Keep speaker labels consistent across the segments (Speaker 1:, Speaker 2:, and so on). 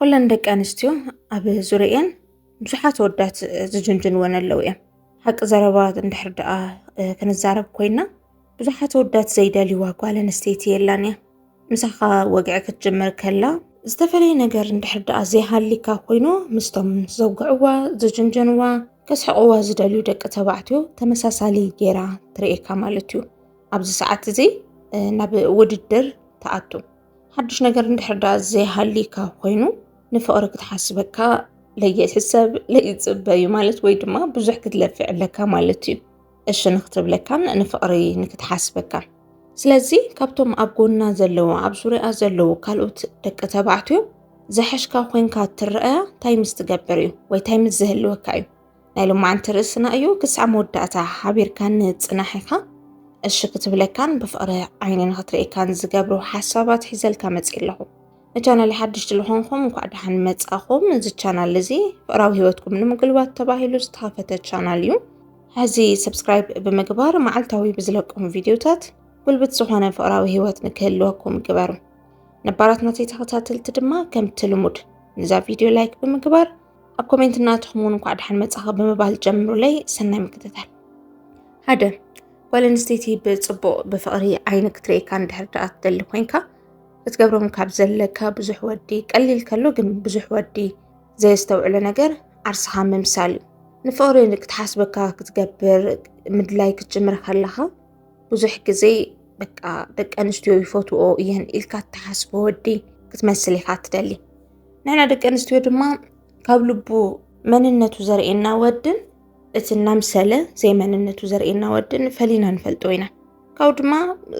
Speaker 1: ኩለን ደቂ ኣንስትዮ ኣብ ዙርየን ብዙሓት ወዳት ዝጅንጅንወን ኣለዉ እዮም ሓቂ ዘረባ እንድሕር ደኣ ክንዛረብ ኮይና ብዙሓት ወዳት ዘይደልይዋ ጓል ኣንስተይቲ የላን እያ ምሳኻ ወግዒ ክትጅምር ከላ ዝተፈላለየ ነገር እንድሕር ደኣ ዘይሃሊካ ኮይኑ ምስቶም ዘውግዕዋ ዝጅንጀንዋ ከስሕቕዋ ዝደልዩ ደቂ ተባዕትዮ ተመሳሳሊ ጌራ ትርእካ ማለት እዩ ኣብዚ ሰዓት እዚ ናብ ውድድር ተኣቱ ሓዱሽ ነገር እንድሕር ዳኣ ዘይሃሊካ ኮይኑ ንፍቅሪ ክትሓስበካ ለይሕሰብ ለይፅበ እዩ ማለት ወይ ድማ ብዙሕ ክትለፍዕ ኣለካ ማለት እዩ እሺ ንክትብለካን ንፍቅሪ ንክትሓስበካ ስለዚ ካብቶም ኣብ ጎና ዘለዉ ኣብ ዙሪያ ዘለዉ ካልኦት ደቂ ተባዕትዮ ዝሐሽካ ኮንካ ትረኣያ እንታይ ምስ ትገብር እዩ ወይ እንታይ ምስ ዝህልወካ እዩ ናይ ሎማዓንቲ ርእስና እዩ ክሳዕ መወዳእታ ሓቢርካን ጽናሕ ኢኻ እሺ ክትብለካን ብፍቕሪ ዓይኒ ንኽትርእካን ዝገብሩ ሓሳባት ሒዘልካ መጽ ኣለኹ ንቻናል ሓድሽቲ ዝኾንኩም እንኳዕ ደሓን መጻኹም እዚ ቻናል እዚ ፍቕራዊ ህይወትኩም ንምግልባት ተባሂሉ ዝተኸፈተ ቻናል እዩ ሕዚ ሰብስክራይብ ብምግባር መዓልታዊ ብዝለቅም ቪድዮታት ጉልብት ዝኾነ ፍቕራዊ ህይወት ንክህልወኩም ግበሩ ነባራት ናተይ ተኸታተልቲ ድማ ከምቲ ልሙድ ንዛ ቪድዮ ላይክ ብምግባር ኣብ ኮሜንት እናትኹም እውን እንኳዕ ደሓን መፃኻ ብምባል ጀምሩለይ ሰናይ ምክትታል ሓደ ጓል ኣንስተይቲ ብፅቡቕ ብፍቕሪ ዓይኒ ክትርእየካ እንድሕር ደኣ ትደሊ ኮንካ ክትገብሮም ካብ ዘለካ ብዙሕ ወዲ ቀሊል ከሎ ግን ብዙሕ ወዲ ዘየስተውዕሎ ነገር ዓርስኻ ምምሳል እዩ ንፍቕሪ ክትሓስበካ ክትገብር ምድላይ ክትጅምር ከለኻ ብዙሕ ግዜ በቃ ደቂ ኣንስትዮ ይፈትዎ እየን ኢልካ እትሓስቦ ወዲ ክትመስል ኢኻ ትደሊ ንሕና ደቂ ኣንስትዮ ድማ ካብ ልቡ መንነቱ ዘርእየና ወድን እቲ እናምሰለ ዘይመንነቱ ዘርእየና ወድን ፈሊና ንፈልጦ ኢና ካብኡ ድማ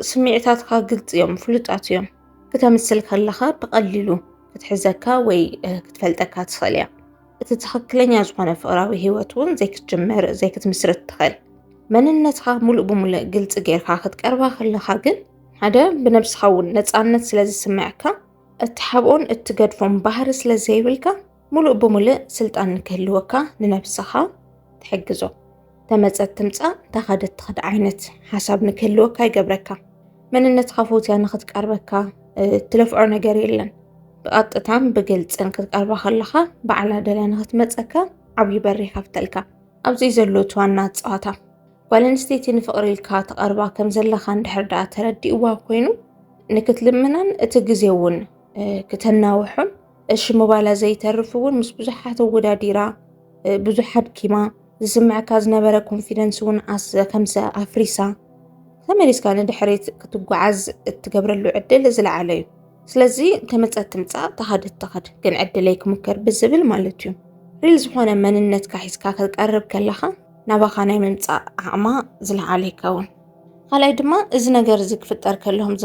Speaker 1: ስምዒታትካ ግልፂ እዮም ፍሉጣት እዮም ክተምስል ከለኻ ብቐሊሉ ክትሕዘካ ወይ ክትፈልጠካ ትኽእል እያ እቲ ትኽክለኛ ዝኾነ ፍቕራዊ ሂወት እውን ዘይክትጅምር ዘይክትምስርት ትኽእል መንነትካ ሙሉእ ብሙሉእ ግልፂ ጌርካ ክትቀርባ ከለኻ ግን ሓደ ብነብስኻ እውን ነፃነት ስለ ዝስምዐካ እትሓብኦን እትገድፎን ባህሪ ስለ ዘይብልካ ሙሉእ ብሙልእ ስልጣን ንክህልወካ ንነብስኻ ትሕግዞ። ተመጸት ትምጻእ ተኸደት ትኸድ ዓይነት ሓሳብ ንክህልወካ ይገብረካ። መንነትካ ፎትያ ንክትቀርበካ እትለፍዖ ነገር የለን። ብቐጥታን ብግልፅን ክትቀርባ ከለኻ ባዕላ ደልያ ንክትመፀካ ዓብዪ በሪ ይኸፍተልካ። ኣብዚ ዘሎ እቲ ዋና ፀዋታ ጓል ኣንስተይቲ ንፍቕሪ ኢልካ ትቐርባ ከም ዘለኻ እንድሕር ደኣ ተረዲእዋ ኮይኑ ንክትልምናን እቲ ግዜ እውን ክተናውሑን እሺ ምባላ ዘይተርፍ እውን ምስ ብዙሓት ኣወዳዲራ ብዙሕ ኣድኪማ ዝስምዐካ ዝነበረ ኮንፊደንስ እውን ከምሰ ኣፍሪሳ ተመሊስካ ንድሕሪት ክትጓዓዝ እትገብረሉ ዕድል ዝለዓለ እዩ ስለዚ ከመፀት ትምፃእ ተኻድት ተኻድ ግን ዕድለይ ክምከር ብዝብል ማለት እዩ ሪል ዝኾነ መንነትካ ሒዝካ ክትቀርብ ከለኻ ናባኻ ናይ ምምፃእ ዓቕማ ዝለዓለ ይከውን። ካልኣይ ድማ እዚ ነገር እዚ ክፍጠር ከለኹም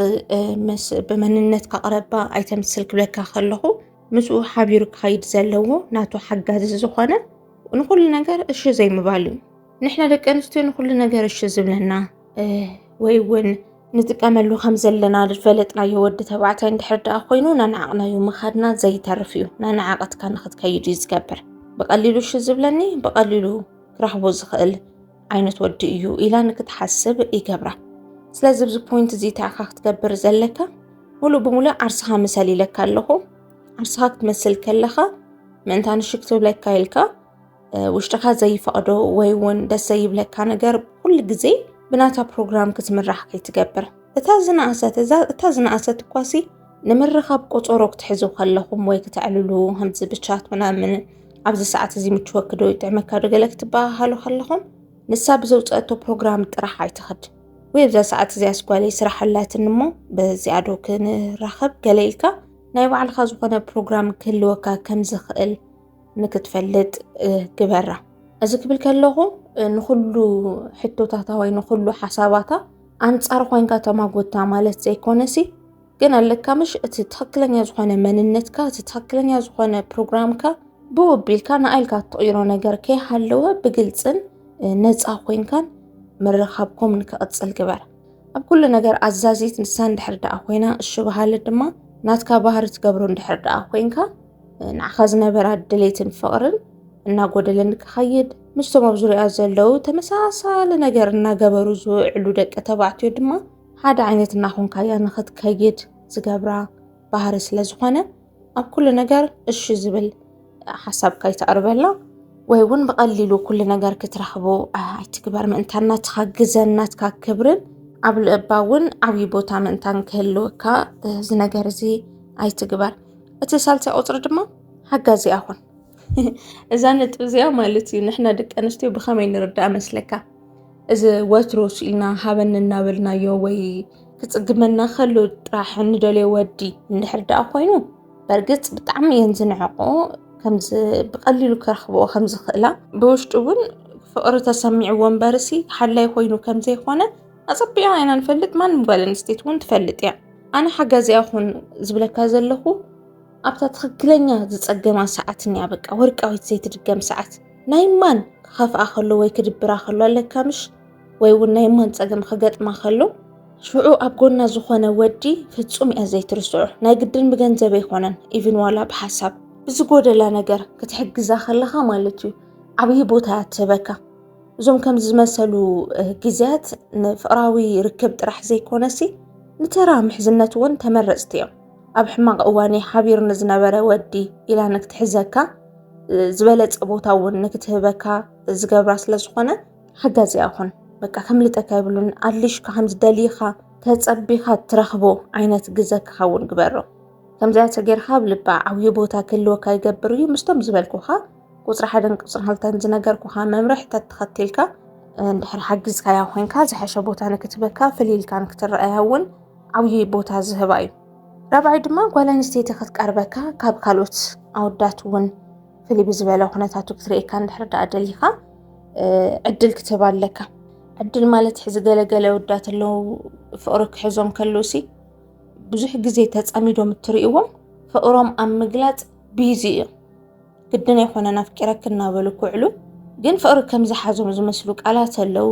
Speaker 1: ብመንነትካ ቅረባ ኣይተምስል ክብለካ ከለኹ ምስኡ ሓቢሩ ክኸይድ ዘለዎ ናቱ ሓጋዚ ዝኾነ ንኩሉ ነገር እሺ ዘይምባል እዩ። ንሕና ደቂ ኣንስትዮ ንኩሉ ነገር እሺ ዝብለና ወይ እውን ንጥቀመሉ ከም ዘለና ዝፈለጥናዮ ወዲ ተባዕታይ እንድሕር ደኣ ኮይኑ ናናዓቕናዩ ምኻድና ዘይተርፍ እዩ ናናዓቐትካ ንክትከይድ እዩ ዝገብር ብቐሊሉ ሹ ዝብለኒ ብቐሊሉ ክረኽቦ ዝኽእል ዓይነት ወዲ እዩ ኢላ ንክትሓስብ ይገብራ ስለዚ ብዚ ፖይንት እዚ ተኣኻ ክትገብር ዘለካ ሙሉእ ብሙሉእ ዓርስኻ ምሰል ኢለካ ኣለኹ ዓርስኻ ክትመስል ከለኻ ምእንታ ንሽክ ትብለካ ኢልካ ውሽጥካ ዘይፈቕዶ ወይ እውን ደስ ዘይብለካ ነገር ኩሉ ግዜ ብናታ ፕሮግራም ክትምራሕ ከይትገብር እታ ዝነኣሰት እታ ዝነኣሰት እኳሲ ንምርኻብ ቆፀሮ ክትሕዙ ከለኹም ወይ ክተዕልሉ ከምዚ ብቻት ምናምን ኣብዚ ሰዓት እዚ ምችወኪ ዶ ይጥዕመካ ዶ ገለ ክትበሃሃሉ ከለኹም ንሳ ብዘውፀአቶ ፕሮግራም ጥራሕ ኣይትኸድ ወይ ኣብዛ ሰዓት እዚኣ ስጓለይ ስራሕ ኣላትኒ እሞ በዚኣ ዶ ክንራኸብ ገለ ኢልካ ናይ ባዕልካ ዝኾነ ፕሮግራም ክህልወካ ከም ዝኽእል ንክትፈልጥ ግበራ እዚ ክብል ከለኹ ንኩሉ ሕቶታታ ወይ ንኩሉ ሓሳባታ ኣንፃር ኮይንካ ተማጎታ ማለት ዘይኮነሲ ግን ኣለካ ምሽ እቲ ትክክለኛ ዝኾነ መንነትካ እቲ ትክክለኛ ዝኾነ ፕሮግራምካ ብወቢልካ ንኣይልካ እትቕይሮ ነገር ከይሃለወ ብግልፅን ነፃ ኮይንካን ምርኻብኩም ንክቕፅል ግበር ኣብ ኩሉ ነገር ኣዛዚት ንሳ እንድሕር ደኣ ኮይና እሺ በሃሊ ድማ ናትካ ባህሪ ትገብሮ እንድሕር ደኣ ኮይንካ ንዓኻ ዝነበራ ድሌትን ፍቕርን እናጎደለን ክኸይድ ምስቶም ኣብ ዙሪያ ዘለዉ ተመሳሳሊ ነገር እናገበሩ ዝውዕሉ ደቂ ተባዕትዮ ድማ ሓደ ዓይነት እናኾንካያ ንኽትከይድ ዝገብራ ባህሪ ስለ ዝኾነ ኣብ ኩሉ ነገር እሺ ዝብል ሓሳብካ ይተቕርበላ ወይ እውን ብቐሊሉ ኩሉ ነገር ክትረኽቦ ኣይትግበር ምእንታን ናትካ ግዘን ናትካ ክብርን ኣብ ልእባ እውን ዓብዪ ቦታ ምእንታን ክህልወካ እዚ ነገር እዚ ኣይትግበር እቲ ሳልሳይ ቁፅሪ ድማ ሓጋዚ ኣኹን እዛ ነጥቢ እዚኣ ማለት እዩ ንሕና ደቂ ኣንስትዮ ብኸመይ ንርዳእ መስለካ እዚ ወትሩ ስኢልና ሃበኒ እናበልናዮ ወይ ክፅግመና ከሎ ጥራሕ እንደልዮ ወዲ እንድሕር ደኣ ኮይኑ በርግፅ ብጣዕሚ እየን ዝንዕቆ ከምዚ ብቐሊሉ ክረኽብኦ ከምዝኽእላ ብውሽጡ እውን ፍቕሪ ተሰሚዕዎ እምበርሲ ሓላይ ኮይኑ ከምዘይኮነ ኣፀቢቓ ኢና ንፈልጥ ማንም ጓል ኣንስተይቲ እውን ትፈልጥ እያ ኣነ ሓጋዚኣ ኹን ዝብለካ ዘለኹ ኣብታ ትኽክለኛ ዝፀገማ ሰዓት እኒኣ በቃ ወርቃዊት ዘይትድገም ሰዓት ናይ ማን ክኸፍኣ ከሎ ወይ ክድብራ ከሎ ኣለካ ምሽ ወይ እውን ናይ ማን ፀገም ክገጥማ ከሎ ሽዑ ኣብ ጎና ዝኾነ ወዲ ፍፁም እያ ዘይትርስዑ ናይ ግድን ብገንዘብ ኣይኮነን ኢቭን ዋላ ብሓሳብ ብዝጎደላ ነገር ክትሕግዛ ከለኻ ማለት እዩ ዓብዪ ቦታ እያ ትህበካ እዞም ከምዚ ዝመሰሉ ግዜያት ንፍቕራዊ ርክብ ጥራሕ ዘይኮነሲ ንተራ ምሕዝነት እውን ተመረፅቲ እዮም። ኣብ ሕማቕ እዋነይ ሓቢሩ ንዝነበረ ወዲ ኢላ ንክትሕዘካ ዝበለፀ ቦታ እውን ንክትህበካ ዝገብራ ስለ ዝኾነ ሓጋዚ ይኹን በቃ ከምልጠካ ይብሉን ኣድሊሽካ ከምዝደልይኻ ተፀቢኻ ትረኽቦ ዓይነት ግዘ ክኸውን ግበሮ። ከምዚኣ ተጌርካ ኣብ ልባ ዓብዪ ቦታ ክህልወካ ይገብር እዩ ምስቶም ዝበልኩኻ ቁፅሪ ሓደን ቁፅሪ ክልተን ዝነገርኩኻ መምርሒ ተተኸቲልካ እንድሕር ሓጊዝካያ ኮይንካ ዝሐሸ ቦታ ንክትበካ ፍልይ ኢልካ ንክትረኣያ እውን ዓብዪ ቦታ ዝህባ እዩ ራብዓይ ድማ ጓል ኣንስተይቲ ክትቀርበካ ካብ ካልኦት ኣወዳት እውን ፍልይ ብዝበለ ኩነታቱ ክትርእካ እንድሕር ዳኣ ደሊኻ ዕድል ክትህብ ኣለካ ዕድል ማለት ሕዚ ገለገለ ወዳት ኣለዉ ፍቅሪ ክሕዞም ከለውሲ ብዙሕ ግዜ ተፀሚዶም እትርእዎም ፍቅሮም ኣብ ምግላፅ ቢዚ እዮም ግድን ኣይኮነን ኣፍቂረኪ እናበሉ ክውዕሉ ግን ፍቕሪ ከም ዝሓዞም ዝመስሉ ቃላት ኣለዉ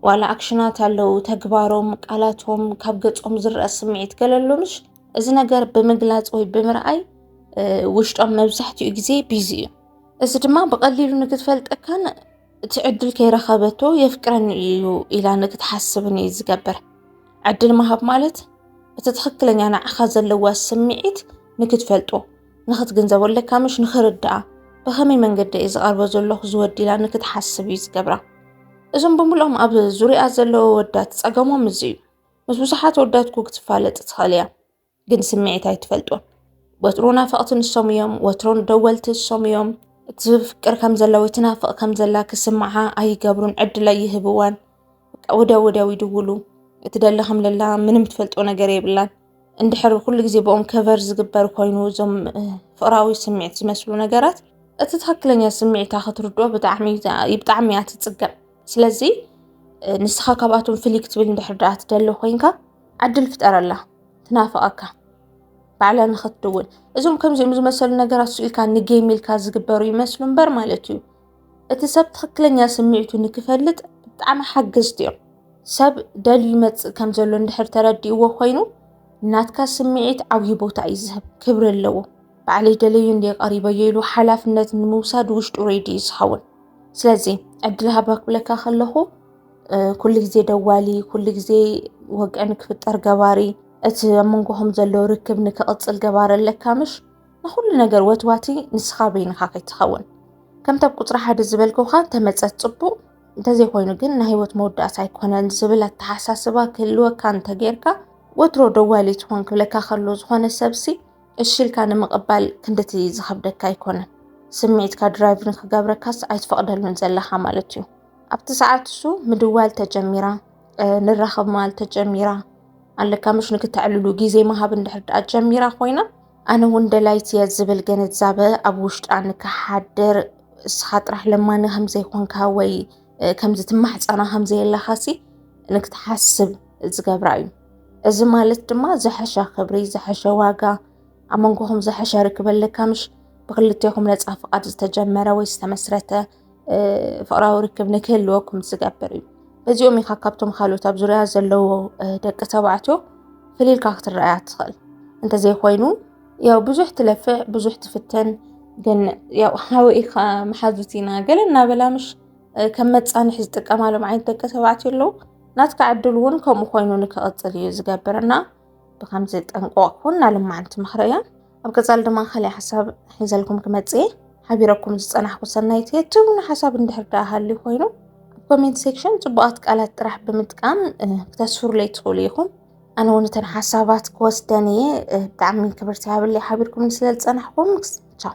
Speaker 1: ዋላ ኣክሽናት ኣለዉ ተግባሮም ቃላቶም ካብ ገጾም ዝረአ ስምዒት ገለሎምሽ እዚ ነገር ብምግላፅ ወይ ብምርኣይ ውሽጦም መብዛሕትኡ ግዜ ቢዚ እዩ እዚ ድማ ብቐሊሉ ንክትፈልጠካን እቲ ዕድል ከይረኸበቶ የፍቅረኒ እዩ ኢላ ንክትሓስብን እዩ ዝገብር ዕድል ምሃብ ማለት እቲ ትኽክለኛ ንዓኻ ዘለዋ ስምዒት ንክትፈልጦ ንኽትግንዘቦ ኣለካ ምሽ ንኽርድኣ ብኸመይ መንገዲ እየ ዝቐርቦ ዘለኹ ዝወዲ ኢላ ንክትሓስብ እዩ ዝገብራ እዞም ብምልኦም ኣብ ዙሪኣ ዘለዎ ወዳት ፀገሞም እዚ እዩ ምስ ብዙሓት ወዳት ኩ ክትፋለጥ ትኽእል እያ ግን ስምዒት ኣይትፈልጦን ወትሮ ናፈቕቲ ንሶም እዮም ወትሮን ደወልቲ እሶም እዮም እትፍቅር ከም ዘላ ወይ ትናፍቕ ከም ዘላ ክስምዓ ኣይገብሩን ዕድል ኣይህብዋን ወዲያው ወዲያው ይድውሉ እቲ ደላ ከም ደላ ምንም ትፈልጦ ነገር የብላን። እንድሕር ኩሉ ግዜ ብኦም ከቨር ዝግበር ኮይኑ እዞም ፍቅራዊ ስምዒት ዝመስሉ ነገራት እቲ ትክክለኛ ስምዒታ ክትርድኦ ብጣዕሚ ብጣዕሚ እያ ትፅገም። ስለዚ ንስኻ ካብኣቶም ፍልይ ክትብል እንድሕር ድኣ ትደሊ ኮይንካ ዕድል ፍጠረላ ትናፍቀካ ባዕላ ንክትድውል እዞም ከምዚኦም ዝመሰሉ ነገራት ስኢልካ ንጌም ኢልካ ዝግበሩ ይመስሉ እምበር ማለት እዩ። እቲ ሰብ ትኽክለኛ ስምዒቱ ንክፈልጥ ብጣዕሚ ሓገዝቲ እዮም። ሰብ ደልዩ ይመፅእ ከም ዘሎ እንድሕር ተረዲእዎ ኮይኑ ናትካ ስምዒት ዓብዪ ቦታ እዩ ዝህብ፣ ክብሪ ኣለዎ። ባዕለይ ደለዩ እንደ ቀሪበዮ ኢሉ ሓላፍነት ንምውሳድ ውሽጡ ሬዲ እዩ ዝኸውን። ስለዚ ዕድል ሃባ ክብለካ ከለኹ ኩሉ ግዜ ደዋሊ፣ ኩሉ ግዜ ወግዒ ንክፍጠር ገባሪ፣ እቲ ኣብ መንጎኹም ዘሎ ርክብ ንክቕፅል ገባሪ ኣለካ ምሽ? ንኹሉ ነገር ወትዋቲ ንስኻ በይንኻ ከይትኸውን ከምቲ ኣብ ቁፅሪ ሓደ ዝበልኩኻ ተመፀት ፅቡቕ እንተዘይኮይኑ ግን ናይ ህይወት መወዳእታ ኣይኮነን ዝብል ኣተሓሳስባ ክህልወካ እንተጌርካ ወትሮ ደዋሊ ትኾን ክብለካ ከሎ ዝኾነ ሰብሲ እሺ ኢልካ ንምቕባል ክንድቲ ዝኸብደካ ኣይኮነን። ስምዒትካ ድራይቭ ንክገብረካስ ኣይትፈቕደሉን ዘለኻ ማለት እዩ። ኣብቲ ሰዓት እሱ ምድዋል ተጀሚራ ንራኸብ መዋል ተጀሚራ ኣለካ ምሽ ንክተዕልሉ ግዜ ምሃብ እንድሕር ድኣ ጀሚራ ኮይና ኣነ እውን ደላይት እየ ዝብል ግንዛበ ኣብ ውሽጣ ንክሓድር እስኻ ጥራሕ ለማኒ ከምዘይኮንካ ወይ ከምዚ ትማሕፀና ከምዘየለኻሲ ንክትሓስብ ዝገብራ እዩ እዚ ማለት ድማ ዝሐሸ ክብሪ ዝሐሸ ዋጋ ኣብ መንጎኹም ዝሐሸ ርክብ ኣለካ ምሽ ብክልቴኹም ነፃ ፍቓድ ዝተጀመረ ወይ ዝተመስረተ ፍቕራዊ ርክብ ንክህልወኩም ዝገብር እዩ። በዚኦም ኢኻ ካብቶም ካልኦት ኣብ ዙርያ ዘለዎ ደቂ ተባዕትዮ ፍልልካ ክትረኣያ ትኽእል። እንተዘይኮይኑ ያው ብዙሕ ትለፍዕ ብዙሕ ትፍተን ግን ያው ሓወይ ኢኻ መሓዙት ኢና ገለ እናበላ ምሽ ከም መፃንሒ ዝጥቀማሎም ዓይነት ደቂ ተባዕትዮ ኣለዉ። ናትካ ዕድል እውን ከምኡ ኮይኑ ንክቕፅል እዩ ዝገብርና ብከምዚ ጠንቆቕ ኩን ኣለማዓንቲ ምኽሪ እያ። ኣብ ቀፃሊ ድማ ካልእ ሓሳብ ሒዘልኩም ክመፅእ እየ ሓቢረኩም ዝፀናሕኩ ሰናይት እየ ትብሉ ሓሳብ እንድሕር ዳኣ ሃልዩ ኮይኑ ኣብ ኮሜንት ሴክሽን ፅቡቓት ቃላት ጥራሕ ብምጥቃም ክተስፍሩለይ ትኽእሉ ኢኹም ኣነ እውን እተን ሓሳባት ክወስደን እየ ብጣዕሚ ክብርቲ ሃብለይ ሓቢርኩምኒ ስለ ዝፀናሕኩም ቻው